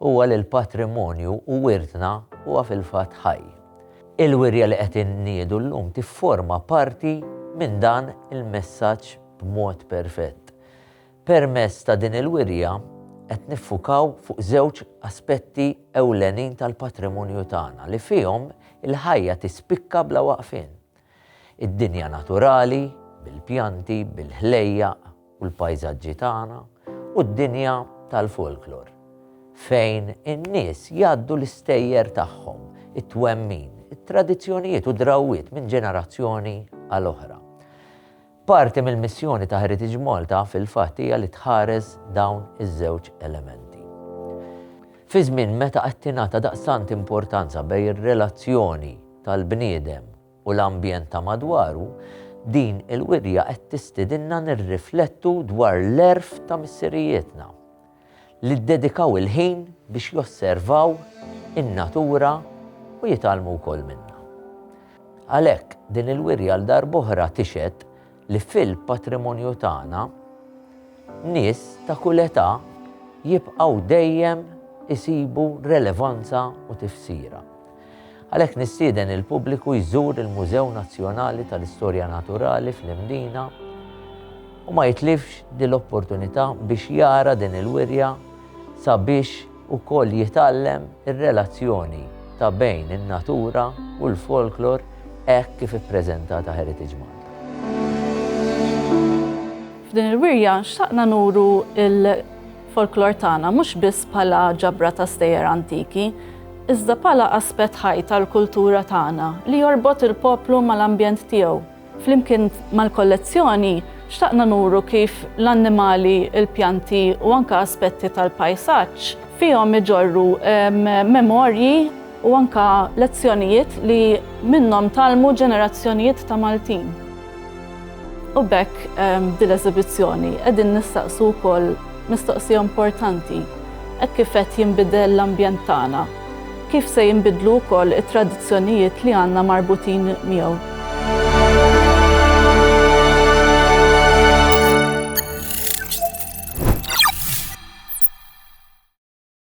Huwa li l-patrimonju u wirtna huwa fil-fatt ħaj. Il-wirja li qed inniedu llum tifforma parti minn dan il-messaġġ b'mod perfett. Permezz ta' din il-wirja qed niffukaw fuq żewġ aspetti ewlenin tal-patrimonju tagħna li fihom il-ħajja tispikka bla waqfien. Id-dinja naturali, bil-pjanti, bil-ħlejjaq u l-pajżaġġi tagħna, u d-dinja tal-folklor, fejn in-nies jgħaddu l-istejjer tagħhom, it-twemmin, it-tradizzjonijiet u d-drawwiet minn ġenerazzjoni għal oħra. Parti mill-missjoni ta' Heritage Malta fil-fatt hija li tħares dawn iż-żewġ elementi. Fi żmien meta qed tingħata daqstant importanza bejn ir-relazzjoni tal-bniedem u l-ambjent ta' madwaru, din il-wirja qed tistidinna nirriflettu dwar l-għerf ta' missirijietna. li ddedikaw il-ħin biex josservaw in-natura u jitgħallmu wkoll minnha. Għalhekk, din il-wirja għal darb'oħra tixhed li fil-patrimonju tagħna nies ta' kull età jibqgħu dejjem isibu relevanza u tifsira. Għalhekk nistieden il-pubbliku jżur il-Mużew Nazzjonali tal-Istorja Naturali fl-Imdina u ma jitlifx din l-opportunità biex jara din il-wirja sabiex ukoll jitgħallem ir-relazzjoni ta' bejn in-natura u l-folklor hekk kif ippreżentata Heritage Malta. F'din il-wirja xtaqna nuru l- folklor tagħna mhux biss bħala ġabra ta' stejjer antiki, iżda bħala aspett ħaj tal-kultura tagħna li jorbot il-poplu mal-ambjent tiegħu. Flimkien mal-kollezzjoni, xtaqna nuru kif l-annimali, il-pjanti u anke aspetti tal-pajsaġġ fihom iġorru memorji, u anke lezzjonijiet li minnhom tgħallmu ġenerazzjonijiet ta' Maltin. U b'hekk b'din l-eżibizzjoni qegħdin nistaqsu wkoll mistoqsija importanti hekk kif qed jinbidel l-ambjent tagħna, kif se jinbidlu wkoll it-tradizzjonijiet li għandna marbutin miegħu.